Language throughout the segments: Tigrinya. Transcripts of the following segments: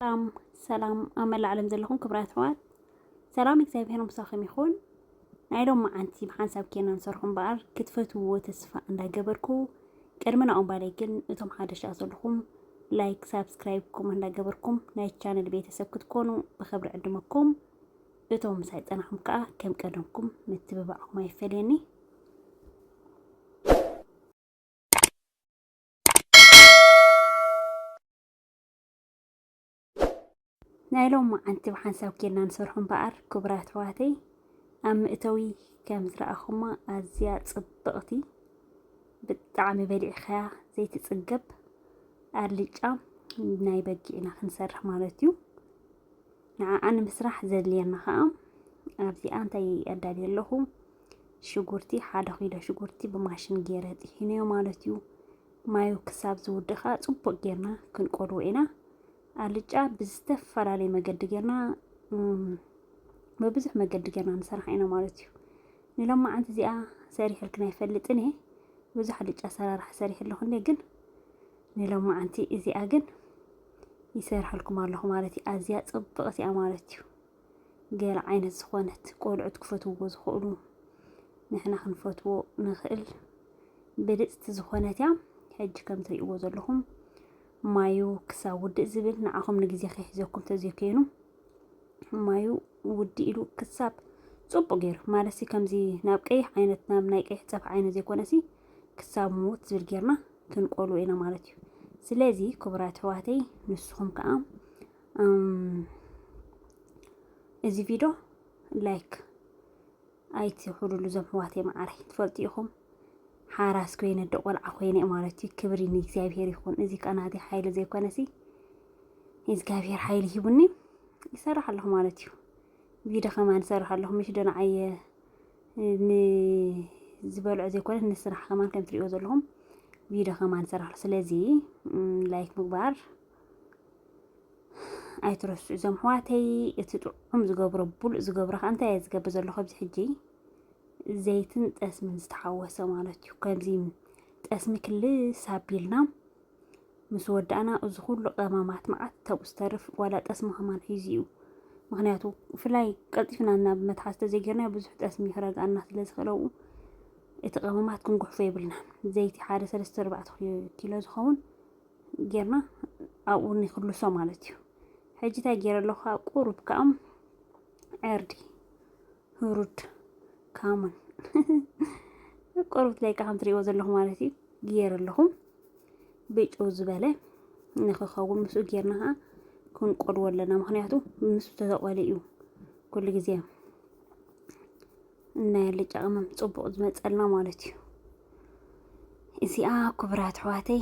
ሰላም ሰላም ኣብ መላእ ዓለም ዘለኹም ክብራት ኣሕዋት ሰላም እግዚኣብሔር ምሳኹም ይኹን። ናይ ሎም መዓንቲ ብሓንሳብ ኬና ንሰርሑ እምበኣር ክትፈትውዎ ተስፋ እንዳገበርኩ ቅድሚ ናኦም ባለይ ግን እቶም ሓደሻ ዘለኹም ላይክ ሳብስክራይብ ኮም እንዳገበርኩም ናይ ቻነል ቤተሰብ ክትኮኑ ብክብሪ ዕድመኩም እቶም ምሳይ ፀናኹም ከዓ ከም ቀደምኩም ምትብባዕኹም ኣይፈለየኒ። ናይ ሎማዓንቲ ብሓንሳብ ጌርና ንሰርሖ እምበኣር ክቡራት ኣሕዋተይ ኣብ መእተዊ ከም ዝረኣኹማ ኣዝያ ጽብቕቲ ብጣዕሚ በሊዕኻያ ዘይትጽገብ ኣልጫ ናይ በጊዕ ኢና ክንሰርሕ ማለት እዩ ንዓኣ ንምስራሕ ዘድልየና ከዓ ኣብዚኣ እንታይ ኣዳልየ ኣለኹ ሽጉርቲ ሓደ ኪሎ ሽጉርቲ ብማሽን ገይረ ጥሒነዮ ማለት እዩ ማዩ ክሳብ ዝውዲ ከኣ ጽቡቅ ጌርና ክንቆልዎ ኢና። ኣልጫ ብዝተፈላለየ መገዲ ጌርና ብብዙሕ መገዲ ጌርና ንሰርሓ ኢና ማለት እዩ። ንሎማዓንቲ እዚኣ ሰሪሕልክን ኣይፈልጥን እየ ብዙሕ ኣልጫ ኣሰራርሓ ሰሪሕ ኣለኹ እንዴ ግን ንሎማዓንቲ እዚኣ ግን ይሰርሐልኩም ኣለኹ ማለት እዩ። ኣዝያ ጽብቕቲ እያ ማለት እዩ። ገለ ዓይነት ዝኾነት ቆልዑት ክፈትዎ ዝኽእሉ ንሕና ክንፈትዎ ንኽእል ብልፅቲ ዝኾነት እያ ሕጂ ከም ትሪእዎ ዘለኹም ማዩ ክሳብ ውድእ ዝብል ንዓኹም ንግዜ ከይሕዘኩም ተዘይኮይኑ ማዩ ውዲ ኢሉ ክሳብ ፅቡቅ ገይሩ ማለት ከምዚ ናብ ቀይሕ ዓይነት ናብ ናይ ቀይሕ ፀብሒ ዓይነት ዘይኮነሲ ክሳብ ምውት ዝብል ጌርና ክንቆልዎ ኢና ማለት እዩ ስለዚ ክቡራት ኣሕዋተይ ንስኹም ከዓ እዚ ቪዶ ላይክ ኣይትኹሉሉ ዞም ሕዋት የመዓረይ ትፈልጡ ኢኹም ሓራስ ኮይነ ዶ ቆልዓ ኮይነ ማለት እዩ ክብሪ ንእግዚኣብሔር ይኹን እዚ ቀናቲ ሓይሊ ዘይኮነሲ እግዚኣብሔር ሓይሊ ሂቡኒ ይሰርሕ ኣለኹ ማለት እዩ ቪዶ ከማን ይሰርሕ ኣለኹ ምሽ ዶ ንዓየ ንዝበልዖ ዘይኮነ ንስራሕ ከማን ከም ትሪእዎ ዘለኹም ቪዶ ከማን ይሰርሕ ስለዚ ላይክ ምግባር ኣይትረስዑ እዞም ኣሕዋተይ እቲ ጥዑም ዝገብሮ ብሉእ ዝገብሮ ከዓ እንታይ እየ ዝገብር ዘለኹ ኣብዚ ሕጂ ዘይትን ጠስምን ዝተሓወሰ ማለት እዩ ከምዚ ጠስሚ ክልስ ኣቢልና ምስ ወዳእና እዚ ኩሉ ቀማማት መዓት ተብኡ ዝተርፍ ዋላ ጠስሚ ከማን ሒዙ እዩ ምክንያቱ ብፍላይ ቀልጢፍና ናብ መትሓዝ ተዘይገርና ብዙሕ ጠስሚ ክረግኣና ስለ ዝኽእለው እቲ ቀመማት ክንጉሕፎ የብልና ዘይቲ ሓደ ሰለስተ ኣርባዕተ ኪሎ ዝኸውን ጌርና ኣብኡ ንክልሶ ማለት እዩ ሕጂ እንታይ ገይረ ኣለኹ ኣብ ቁሩብ ከዓ ዕርዲ ህሩድ ካሙን ቁሩብ ለይካ ከም ትሪእዎ ዘለኹ ማለት እዩ ገይረ ኣለኹ ብጭው ዝበለ ንክኸውን ምስኡ ጌርና ከዓ ክንቆልዎ ኣለና ምክንያቱ ምስ ተተቆለ እዩ ኩሉ ግዜ ናይ ኣልጫ ቅመም ፅቡቕ ዝመፀልና ማለት እዩ። እዚኣ ክቡራት ኣሕዋተይ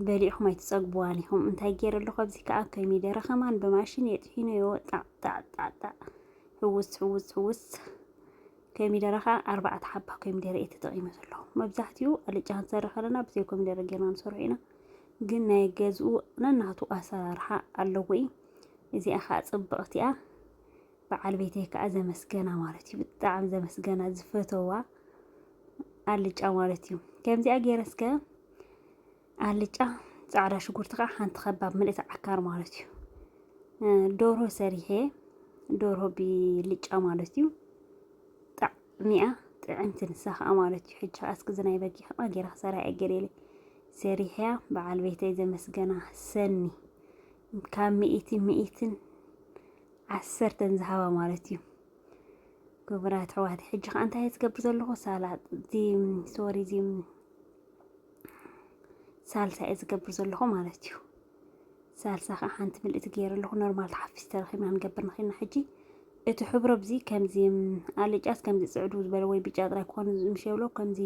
በሊዕኹም ኣይትፀግቡዋን ኢኹም። እንታይ ገይረ ኣለኹ ኣብዚ ከዓ ኮሚደረ ከማን ብማሽን የጥሒኖ ይወጣዕ ጣዕጣዕጣዕ ሕውስ ሕውስ ሕውስ ኮሚደረ ከዓ ኣርባዕተ ሓባ ኮሚደረ እየ ተጠቂመ ዘለኹ። መብዛሕትኡ ኣልጫ ክንሰርሕ ከለና ብዘይ ኮሚደረ ገይርና ንሰርሖ ኢና። ግን ናይ ገዝኡ ነናቱ ኣሰራርሓ ኣለዎ እዩ። እዚኣ ከዓ ፅብቕቲ እያ። በዓል ቤተይ ከዓ ዘመስገና ማለት እዩ ብጣዕሚ ዘመስገና ዝፈተዋ ኣልጫ ማለት እዩ ከምዚኣ ገይረ እስከ ኣልጫ ፃዕዳ ሽጉርቲ ከዓ ሓንቲ ከባብ ምልእቲ ዓካር ማለት እዩ ዶርሆ ሰሪሐ ዶርሆ ብልጫ ማለት እዩ ጣዕሚኣ ጥዕምቲ ንሳ ከዓ ማለት እዩ ሕጂ ከዓ እስኪ ዝናይ በጊ ከዓ ገይራ ክሰራ እየ ገሌለ ሰሪሕያ በዓል ቤተይ ዘመስገና ሰኒ ካብ ሚእቲ ሚእትን ዓሰርተን ዝሃባ ማለት እዩ። ክቡራት ኣሕዋት ሕጂ ከዓ እንታይ ዝገብር ዘለኹ ሳላጥ ሶሪ እዚ ሳልሳ እየ ዝገብር ዘለኹ ማለት እዩ። ሳልሳ ከዓ ሓንቲ ምልእቲ ገይረ ኣለኹ ኖርማል ተሓፊስ ተረኺብና ንገብር ንኽና ሕጂ እቲ ሕብሮ ብዚ ከምዚ ኣልጫስ ከምዚ ፅዕዱ ዝበለ ወይ ብጫ ጥራይ ክኾኑ ምሽ የብሎ ከምዚ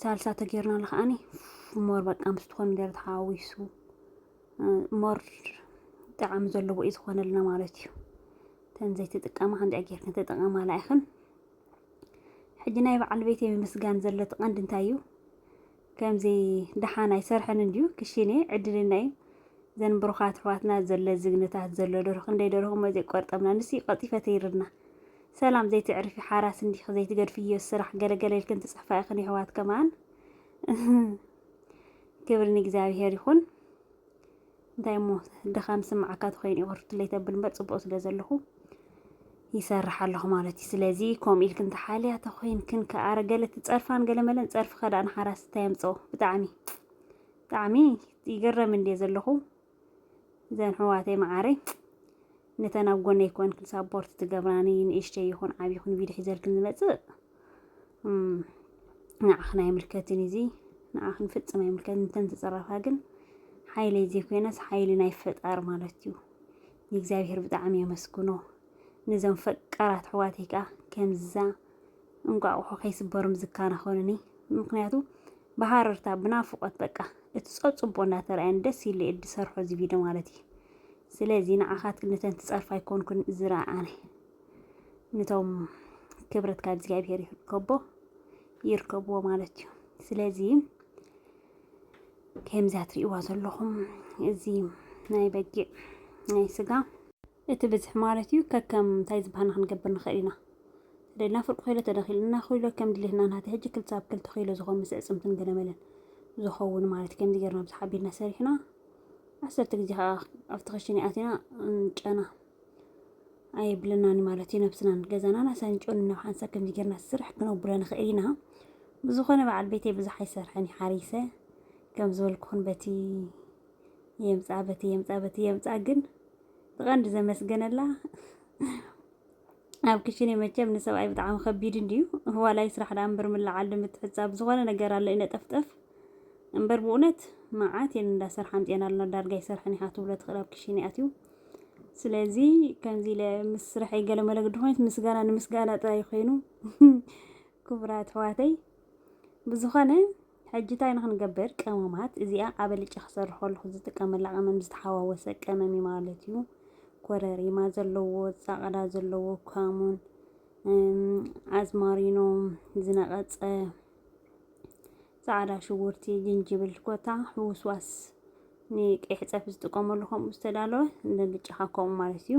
ሳልሳ ተገይርናሉ ከዓኒ ሞር በቃ ምስ ትኾኑ ደረ ተሓዊሱ ሞር ጣዕሚ ዘለዎ እዩ ዝኾነልና ማለት እዩ ተን ዘይትጥቀማ ከምዚኣ ጌርክን ተጠቐማላ ኢኽን ሕጂ ናይ በዓል ቤተይ ምምስጋን ዘሎ እቲ ቀንዲ እንታይ እዩ ከምዚ ደሓን ኣይሰርሐን እንድዩ ክሽኔ ዕድልና እዩ ዘን ብሩኻት ኣሕዋትና ዘሎ ዝግነታት ዘሎ ደርሁ ክንደይ ደርሁ እሞ ዘይቆርጠምና ንሱ ቀልጢፈ ተይርና ሰላም ዘይትዕርፊ ሓራስ እንዲኺ ዘይትገድፍዮ ስራሕ ገለገለ ኢልክን ትፅሕፋ ኢኽን የሕዋት ከማን ክብሪ ንእግዚኣብሄር ይኹን። እንታይ እሞ ድኻም ስምዓካ ተኮይኑ እዩ ቅርትለይ ተብል እምበር ፅቡቅ ስለ ዘለኹ ይሰርሕ ኣለኹ ማለት እዩ። ስለዚ ከምኡ ኢልክን ተሓልያ ተኮይንክን ከኣ ገለ ትፀርፋን ገለ መለን ፀርፊ ከዳእ ንሓራስ እንታይ የምፅኦ ብጣዕሚ ብጣዕሚ ይገረም እንድየ ዘለኹ። ዘን ሕዋተይ መዓረይ ንተን ኣብ ጎነይ ኮንክን ሳፖርት ትገብራኒ ንእሽተይ ይኹን ዓብ ይኹን ቪድዮ ሒዘልክን ዝመጽእ ንዓኽን ኣይምልከትን እዚ ንዓኽን ፍጽም ኣይምልከትን እንተን ትጽረፋ ግን ሓይለይ ዘይኮይነስ ሓይሊ ናይ ፈጣር ማለት እዩ ንእግዚኣብሔር ብጣዕሚ የመስግኖ ነዞም ፈቃራት ኣሕዋተይ ከዓ ከምዛ እንቋቑሖ ከይስበሩም ዝከናኸኑኒ ምክንያቱ ብሃረርታ ብናፍቆት በቃ እቲ ጸጽቦ እንዳተራእየን ደስ ኢሉ እየ ዝሰርሖ እዚ ቪድዮ ማለት እዩ ስለዚ ንዓኻትክን ነተን ትጸርፋ ኣይኮንኩን ዝረኣነ ንቶም ክብረት ካብ እግዚኣብሄር ይርከቦ ይርከብዎ ማለት እዩ ስለዚ ከምዛ ትርእይዋ ዘለኹም እዚ ናይ በጊዕ ናይ ስጋ እቲ ብዝሒ ማለት እዩ ከከም እንታይ ዝበሃና ክንገብር ንኽእል ኢና ተደልና ፍርቂ ኪሎ ተደኺልና ኪሎ ከም ድሌትና ናተይ ሕጂ ክልተ ኣብ ክልተ ኪሎ ዝኾን ምስ ዕጽምትን ገለመለን ዝኾውን ማለት ከምዚ ጌርና ብዙሕ ኣቢልና ሰሪሕና ዓሰርተ ግዜ ከዓ ኣብቲ ክሽነ ኣቲና ጨና ኣየብለናን ማለት እዩ ነብስናን ገዛናን ኣሳንጮን ናብ ሓንሳብ ከምዚ ጌርና ስራሕ ክነብሎ ንኽእል ኢና ብዝኾነ በዓል ቤተይ ብዙሕ ኣይሰርሐን ይሓሪሰ ከም ዝበልኩኹን በቲ የምፃእ በቲ የምፃእ በቲ የምፃእ ግን ብቐንዲ ዘመስገነላ ኣብ ክሽነ መቸም ንሰብኣይ ብጣዕሚ ከቢድ እንድዩ ዋላይ ስራሕ ዳ እምበር ምልዓል ንምትሕፃብ ዝኾነ ነገር ኣሎ ይነጠፍጠፍ እምበር ብእውነት መዓት የን እንዳሰርሓ ኣምፅኤን ኣለና ዳርጋ ይሰርሐን ኢኻ ትብሎ ትኽእል ኣብ ክሽነ ኣትዩ ስለዚ ከምዚ ኢለ ምስ ስርሐይ ገለ መለግዲ ኮይነት ምስጋና ንምስጋና ጥራይ ኮይኑ ክቡራት ኣሕዋተይ ብዝኾነ ሕጂ ታይ ንክንገብር ቀመማት እዚኣ ኣብ ኣልጫ ክሰርሕ ከለኩ ዝጥቀመላ ቀመም ዝተሓዋወሰ ቀመም እዩ ማለት እዩ ኮረሪማ ዘለዎ ፃቅዳ ዘለዎ ካሙን ኣዝማሪኖ ዝነቀፀ ፃዕዳ ሽጉርቲ ጅንጅብል ኮታ ሕውስዋስ ንቀይሕ ፀብሒ ዝጥቀመሉ ከምኡ ዝተዳለወ ንልጫኻ ከምኡ ማለት እዩ።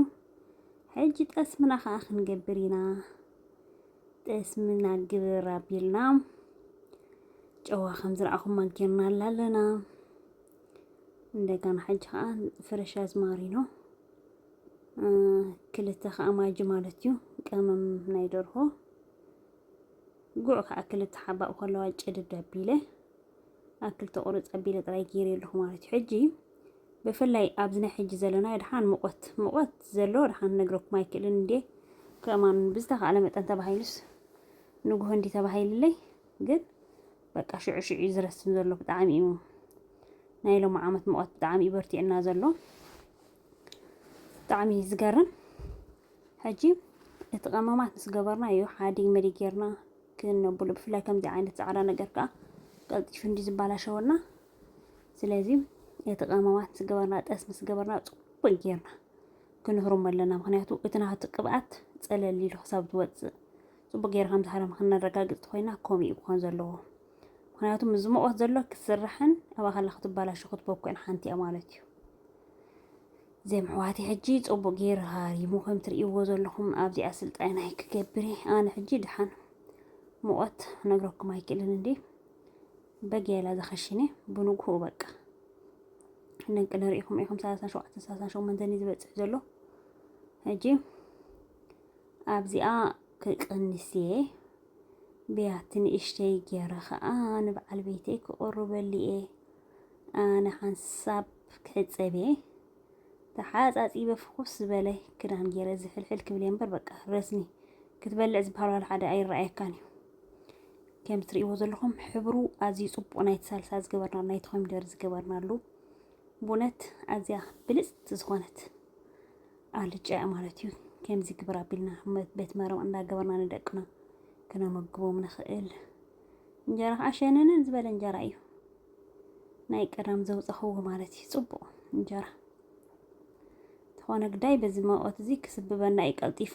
ሕጂ ጠስምና ከዓ ክንገብር ኢና። ጠስምና ግብር ኣቢልና ጨዋ ከም ዝረኣኹማ ጌርናላ ኣለና። እንደገና ሕጂ ከዓ ፍረሽ ኣዝማሪኖ ክልተ ከዓ ማጂ ማለት እዩ ቀመም ናይ ደርሆ ጉዕ ከዓ ክልተ ሓባእ ከለዋ ጨድድ ኣቢለ ኣክል ተቆርፅ ኣቢለ ጥራይ ገይረ ኣለኹ ማለት እዩ ሕጂ ብፍላይ ኣብዚ ናይ ሕጂ ዘለና ድሓን ሙቐት ሙቐት ዘሎ ድሓን ነግረኩም ኣይክእልን እንዴ ከማን ብዝተኻእለ መጠን ተባሂሉስ ንጉሆ እንዲ ተባሂልለይ ግን በቃ ሽዑ ሽዑ እዩ ዝረስም ዘሎ ብጣዕሚ እዩ ናይ ሎሚ ዓመት ሙቐት ብጣዕሚ እዩ በርቲዕና ዘሎ ብጣዕሚ እዩ ዝገርም ሕጂ እቲ ቀመማት ምስ ገበርናዮ ሓዲግ መዲግ ጌርና ክነብሎ ብፍላይ ከምዚ ዓይነት ጻዕዳ ነገር ከኣ ቀልጢፉ እንዲ ዝባላሸወና ስለዚ እቲ ቀመማት ምስ ገበርና ጠስ ምስ ገበርና ጽቡቅ ጌርና ክንህርሞ ኣለና ምክንያቱ እቲ ናቱ ቅብኣት ጸለል ኢሉ ክሳብ ዝወጽእ ጽቡቅ ጌርካ ከም ዝሃረም ክነረጋግጽ ኮይና ከምኡ እዩ ክኾን ዘለዎ ምክንያቱ ምስ ዝሞቆት ዘሎ ክስራሕን ኣብኣ ከላ ክትባላሾ ክትበኩዕን ሓንቲ እያ ማለት እዩ ዘም ኣሕዋተይ ሕጂ ጽቡቅ ጌሩ ሃሪሙ ከም ትርእይዎ ዘለኹም ኣብዚኣ ስልጣይናይ ክገብር እየ ኣነ ሕጂ ድሓን ሙቐት ነግረኩም ኣይክእልን እንዴ በጊያላ ዘኸሽነ ብንግሁ በቃ ንቂ ንርእኹም ኢኹም ሰላሳን ሸውዓተን ሰላሳን ሸሞንተን እዩ ዝበጽሕ ዘሎ ሕጂ ኣብዚኣ ክቅንስ እየ ብያቲ ንእሽተይ ጌረ ከዓ ንበዓል ቤተይ ክቕርበሉ እየ ኣነ ሓንሳብ ክሕጸብ እየ ተሓጻጺበ ፍኹስ ዝበለ ክዳን ገይረ ዝሕልሕል ክብል እየ እምበር በቃ ረስኒ ክትበልዕ ዝበሃል ዋላ ሓደ ኣይረኣየካን እዩ። ከም ትርእይዎ ዘለኹም ሕብሩ ኣዝዩ ጽቡቕ ናይቲ ሳልሳ ዝገበርና ናይቲ ኮሚደር ዝገበርናሉ ብእውነት ኣዝያ ብልጽቲ ዝኾነት ኣልጫ እያ ማለት እዩ። ከምዚ ግብር ኣቢልና ቤት መረም እንዳገበርና ንደቅና ክነመግቦም ንኽእል እንጀራ ከዓ ሸነነን ዝበለ እንጀራ እዩ ናይ ቀዳም ዘውፀኽዎ ማለት እዩ ፅቡቕ እንጀራ ዝኾነ ግዳይ በዚ መቆት እዚ ክስብበና እዩ ቀልጢፉ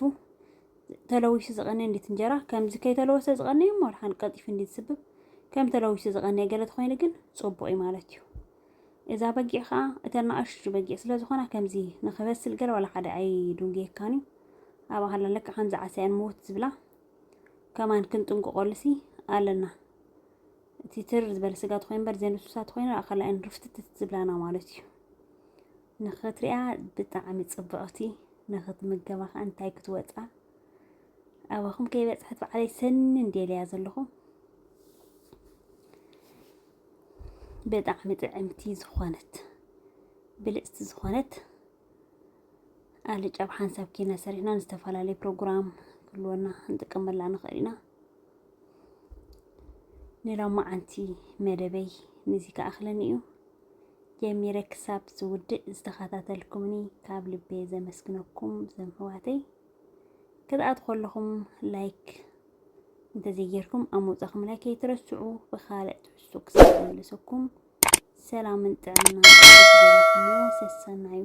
ተለዊሱ ዝቐነ እንዴት እንጀራ ከምዚ ከይተለወሰ ዝቐነ እዩ ሞልሓን ቀልጢፉ እንዴት ስብብ ከም ተለዊሱ ዝቐነ ገለ ተኾይኑ ግን ፅቡቕ እዩ ማለት እዩ እዛ በጊዕ ከዓ እተን ንኣሽቱ በጊዕ ስለ ዝኾና ከምዚ ንክበስል ገለ ዋላ ሓደ ኣይዱንጌካን እዩ ኣብ ኣሃላለካ ከምዚ ዓሳያን ምውት ዝብላ ከማን ክንጥንቅቆሉሲ ኣለና እቲ ትር ዝበለ ስጋ ትኮይ እምበር ዘይንሱሳ ትኮይና ኣኸላይን ርፍትትት ዝብላና ማለት እዩ ንክትሪኣ ብጣዕሚ ፅብቕቲ ንክትምገባ ከዓ እንታይ ክትወፃ ኣባኹም ከይበፅሐት በዓለይ ሰኒ እንዴልያ ዘለኹ ብጣዕሚ ጥዕምቲ ዝኾነት ብልፅቲ ዝኾነት ኣልጫ ብ ሓንሳብ ኬና ሰሪሕና ንዝተፈላለዩ ፕሮግራም ክህልወና ክንጥቀመላ ንኽእል ኢና። ንሎማዓንቲ መደበይ ንዚ ክኣኽለኒ እዩ። ጀሚረ ክሳብ ዝውድእ ዝተኸታተልኩምኒ ካብ ልቤ ዘመስግነኩም ዘም ሕዋተይ ክትኣት ከለኹም ላይክ እንተዘይጌርኩም ኣብ ምውፃኹም ላይክ ከይትረስዑ ብካልእ ትሕዝቶ ክሳብ ዝምልሰኩም ሰላምን ጥዕናን ንኹሉ ሰሰናዩ።